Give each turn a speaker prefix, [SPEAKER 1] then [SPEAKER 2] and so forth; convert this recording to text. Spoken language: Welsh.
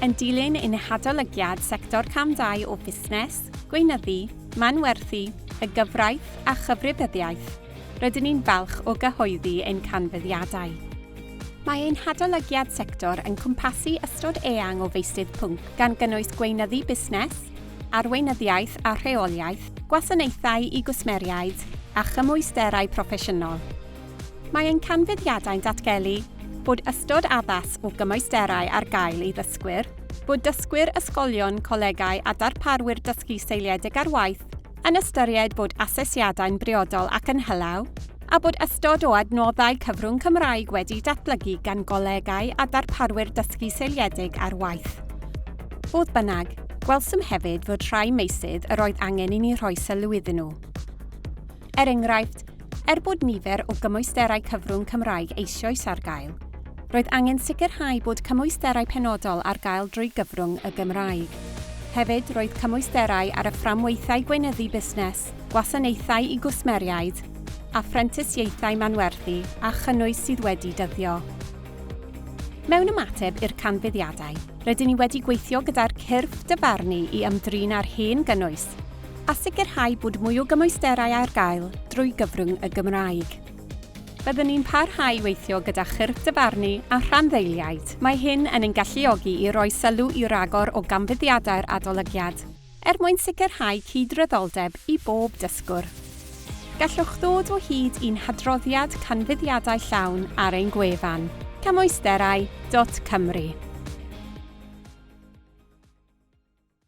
[SPEAKER 1] Yn dilyn ein hadolygiad sector cam dau o fusnes, gweinyddu, manwerthu, y gyfraith a chyfrifyddiaeth, rydyn ni'n falch o gyhoeddi ein canfyddiadau. Mae ein hadolygiad sector yn cwmpasu ystod eang o feysydd pwnc gan gynnwys gweinyddu busnes, arweinyddiaeth a rheoliaeth, gwasanaethau i gwsmeriaid a chymwysterau proffesiynol. Mae ein canfyddiadau'n datgelu bod ystod addas o gymwysterau ar gael i ddysgwyr, bod dysgwyr, ysgolion, colegau a darparwyr dysgu seiliedig ar waith yn ystyried bod asesiadau'n briodol ac yn hylaw, a bod ystod o adnoddau cyfrwng Cymraeg wedi'u datblygu gan golegau a darparwyr dysgu seiliedig ar waith. Fodd bynnag, gwelsom hefyd fod rhai meysydd yr oedd angen i ni rhoi sylw iddyn nhw. Er enghraifft, er bod nifer o gymwysterau cyfrwng Cymraeg eisioes ar gael, roedd angen sicrhau bod cymwysterau penodol ar gael drwy gyfrwng y Gymraeg. Hefyd, roedd cymwysterau ar y fframwaethau gweinyddu busnes, gwasanaethau i gwsmeriaid, a phrentisiaethau manwerthu a chynnwys sydd wedi dyddio. Mewn ymateb i'r canfyddiadau, rydyn ni wedi gweithio gyda'r cyrff dyfarnu i ymdrin â'r hen gynnwys, a sicrhau bod mwy o gymwysterau ar gael drwy gyfrwng y Gymraeg. Byddwn ni'n parhau i weithio gyda chyrff dyfarnu a rhanddeiliaid. Mae hyn yn ein galluogi i roi sylw i ragor o ganfyddiadau'r adolygiad, er mwyn sicrhau cydraddoldeb i bob dysgwr. Gallwch ddod o hyd i'n hadroddiad canfyddiadau llawn ar ein gwefan, camwysterau.cymru.